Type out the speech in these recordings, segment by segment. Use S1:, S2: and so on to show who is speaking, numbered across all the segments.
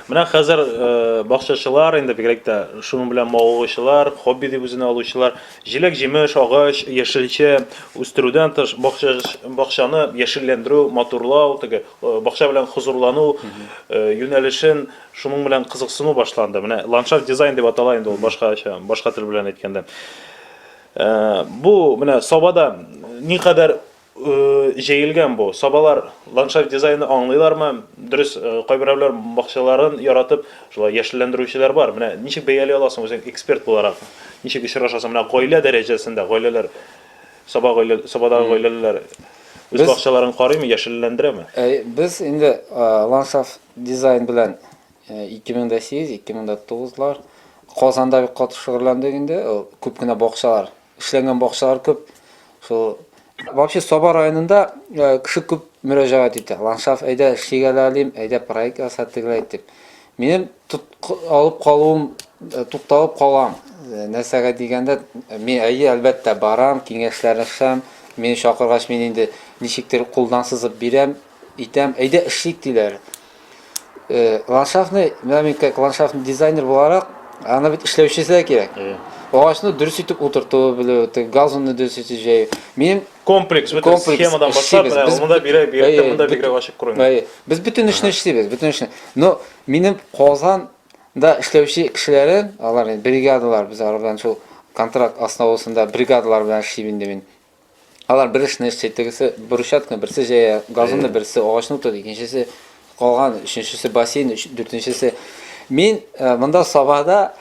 S1: Менә хәзер э, бакчачылар, инде бигрәк тә шуның белән мавыгучылар, хобби дип үзенә алучылар, җиләк-җимеш, агач, яшелчә үстерүдән тыш бакча, бакчаны яшелләндерү, матурлау, теге э, бакча белән хозурлану э, юнәлешен шуның белән кызыксыну башланды. Менә ландшафт дизайн дип атала инде ул башкача, башка тел белән әйткәндә. Э, Бу менә Сабада никадәр Җәелгән бу. Сабалар ландшафт дизайны аңлыйлармы? Дөрес, кайберәүләр бакчаларын яратып, шулай яшелләндерүчеләр бар. Менә ничек бәяли аласың үзең эксперт буларак? Ничек очрашасың? Менә гаилә дәрәҗәсендә, гаиләләр, саба гаилә, сабадагы гаиләләр үз бакчаларын карыймы, яшелләндерәме? Әй, без инде
S2: ландшафт дизайн белән 2008, 2009 лар Казанда бик каты шөгыльләндек инде. Күп кенә бакчалар Эшләнгән бакчалар күп. Шул Вообще Саба районында э, кеше күп мөрәҗәгать итә. Ландшафт әйдә эшлигә лә алим, әйдә проект яса тегеләй дип. Минем алып калуым э, тукталып калам. Э, нәрсәгә дигәндә, мин әйе әлбәттә барам, киңәшләрешәм. Мине чакыргач мин инде ничектер кулдан сызып бирәм. Итәм, әйдә эшлик диләр. Э, ландшафтный, менә мин как ландшафтный дизайнер буларак, аны бит эшләүчесе дә кирәк. Э. Агачны дөрес итеп утырту белү, тек газонны дөрес итеп җәю. Мин комплекс, бөтен комплекс
S1: схемадан башлап, эшлибез. менә Без- монда бирә, бирә, Әйе, монда бөт- бигрәк ачык күренә. Әйе, без бөтен эшне
S2: эшлибез, бөтен эшне. Но минем Казанда эшләүче кешеләрем, алар инде бригадалар, без алар белән шул контракт основасында бригадалар белән эшлим инде мин. Алар бер эшне эшли, тегесе брусчатканы берсе җәя, газонны берсе, агачны утырта, икенчесе калган, өченчесе бассейн, өч, дүртенчесе. Мин э, монда сабада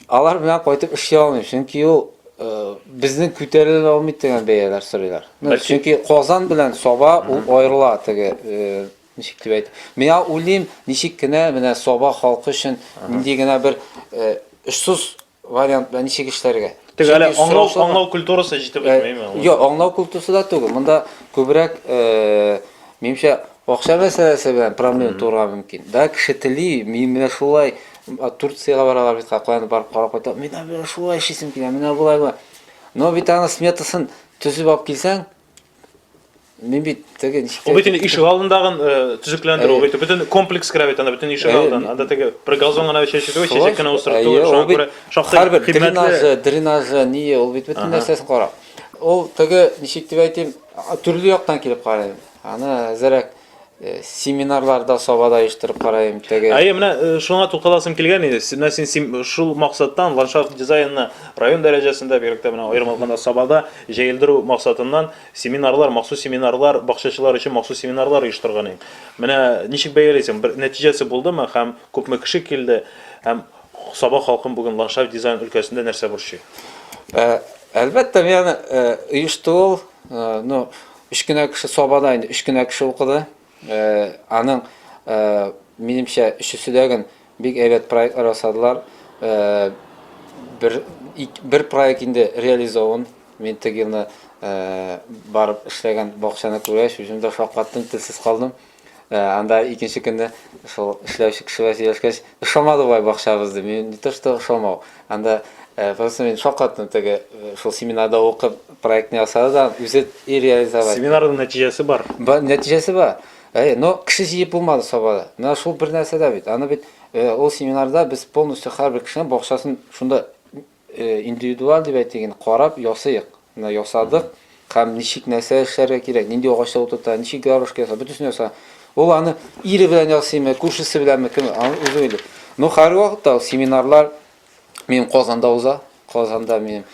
S2: алар белән кайтып эшли алмыйм, чөнки ул э, безнең күтәрелә алмый дигән бәяләр сорыйлар. Ну, Бәлки- чөнки Казан белән Саба ул аерыла теге э, ничек дип әйтә. Миңа уйлыйм, ничек кенә менә Саба халкы өчен нинди генә бер э, очсыз Вариант белән ничек эшләргә? Тик әле аңлау,
S1: аңлау культурасы җитеп бетмәйме? Юк, аңлау культурасы да
S2: түгел. Монда күбрәк, э, минемчә, акча мәсьәләсе белән проблема туарга мөмкин. Да, кеше тели, мин менә шулай Турциягә баралар бит, какланып барып карап кайта. Мин менә шулай эшлисем килә, менә болай була. Но бит аны сметасын төзеп алып килсәң, Мин бит теге ничек Ул бит инде ишек алдындагын
S1: э, төзекләндерү, ул бит бөтен комплекс керә бит анда, бөтен ишек Әйе. алдын. Анда теге бер газон гына чәчү түгел, Шулай чәчәк кенә шул. утырту, Әйе, шуңа ул бит күрә шактый һәрбер кыйммәтле. дренажы, дренажы,
S2: ние, ул бит бөтен нәрсәсен карап. Ул теге ничек дип әйтим, а, төрле яктан килеп карыйм. Аны әзерәк э, семинарларда сабада оештырып карыйм теге. Әйе, менә э, шуңа
S1: тукталасым килгән иде. Син- Менә син сим- шул максаттан ландшафт дизайнына район дәрәҗәсендә, бигрәк тә менә аерым алганда Сабада җәелдерү максатыннан Семинарлар, махсус семинарлар, бакчачылар өчен махсус семинарлар оештырган идем. Менә ничек бәялисең, бер нәтиҗәсе булдымы һәм күпме кеше килде? Һәм Саба халкын бүген ландшафт дизайн өлкәсендә нәрсә борчый? Ә,
S2: Әлбәттә, мин оештыру, ну, өч кенә кеше Сабада инде өч кенә кеше укыды. Аның, минемчә, өчесе дә гөн бик әйбәт проектлар ясадылар. Бер, бер проект инде реализован. Мин теге елны барып эшләгән бакчаны күргәч, үзем дә шаккаттым, телсез калдым. Анда икенче көнне шул эшләүче кеше белән сөйләшкәч, Ошамады бай бакчабыз ди. Мин не то что ошамау. Анда просто мин шакаттым теге шул семинарда укып проектны ясады да үзе и реализовать. Семинарның нәтиҗәсе
S1: бар. Бар нәтиҗәсе бар.
S2: Әй, но кеше җыеп булмады Сабада. Менә шул бер нәрсә дә бит. Аны бит ул семинарда без полностью һәрбер кешенең бакчасын шунда Индивидуаль дип әйтик инде, карап ясыйк. Менә ясадык һәм ничек нәрсә эшләргә кирәк, нинди агачта утырта, ничек гармошка ясап, бөтенесен яса. Ул аны ире белән ясыймы, күршесе беләнме, кем, аны үзе уйлый. Но хәзерге вакытта ул семинарлар минем Казанда уза. Казанда минем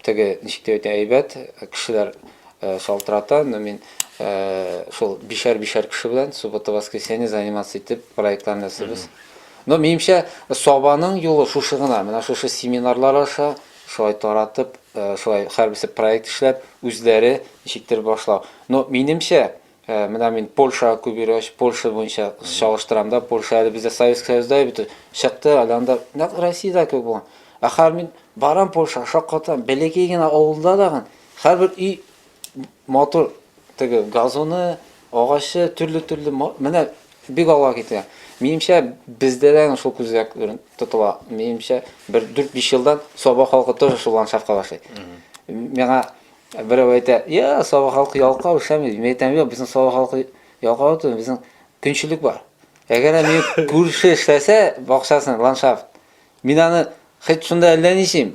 S2: теге, ничек дип әйтә, әйбәт кешеләр шалтырата, но мин шул бишәр-бишәр кеше белән суббота-воскресенье заниматься итеп проектларны ясыйбыз. Но, минемчә, Сабаның юлы шушы гына, менә шушы семинарлар аша, шулай таратып, шулай һәрберсе проект эшләп, үзләре ничектер башлау. Но, минемчә, менә мин Польшага күп йөргәч, Польша буенча чагыштырам да, Польша әле бездә Советский Союзда бит, чыкты, әле анда нәкъ Россиядә кебек булган. Ә хәзер мин барам Польшага, шаккатырам, бәләкәй генә авылда дагы һәрбер өй Матур теге газоны, агачы, төрле-төрле, менә бик алга китә. Минемчә, бездә дә шул күзгә тотыла. Минемчә, бер 4-5 елдан Саба халкы тоже шул ландшафтка башлый. Миңа берәү әйтә, я, Саба халкы ялкау эшләми. Мин әйтәм, юк, безнең Саба халкы ялкау түгел, безнең көнчелек бар. Әгәр мин күрше эшләсә, бакчасын, ландшафт, мин аны хит шунда әллә ничим,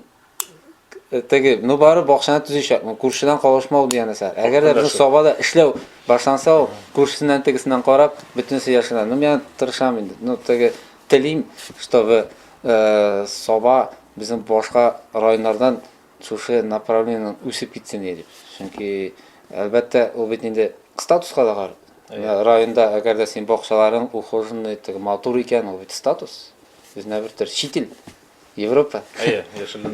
S2: теге, ну бары бакчаны төзичәк, ну күршедән калышмау дигән нәрсә. Әгәр дә бер соба да эшләү башланса, ул күршесеннән тегесеннән карап, бөтенесе яшенә. Ну мен тырышам инде. Ну теге телим, чтобы э, соба безнең башка районнардан шушы направлениеннән үсеп китсен дип. Чөнки әлбәттә ул бит инде статуска да карый. Э, районда әгәр дә син бакчаларың ухоженный, теге матур икән, ул бит статус. Безнә бер төр чит ил. Европа. Әйе, яшелләндерү.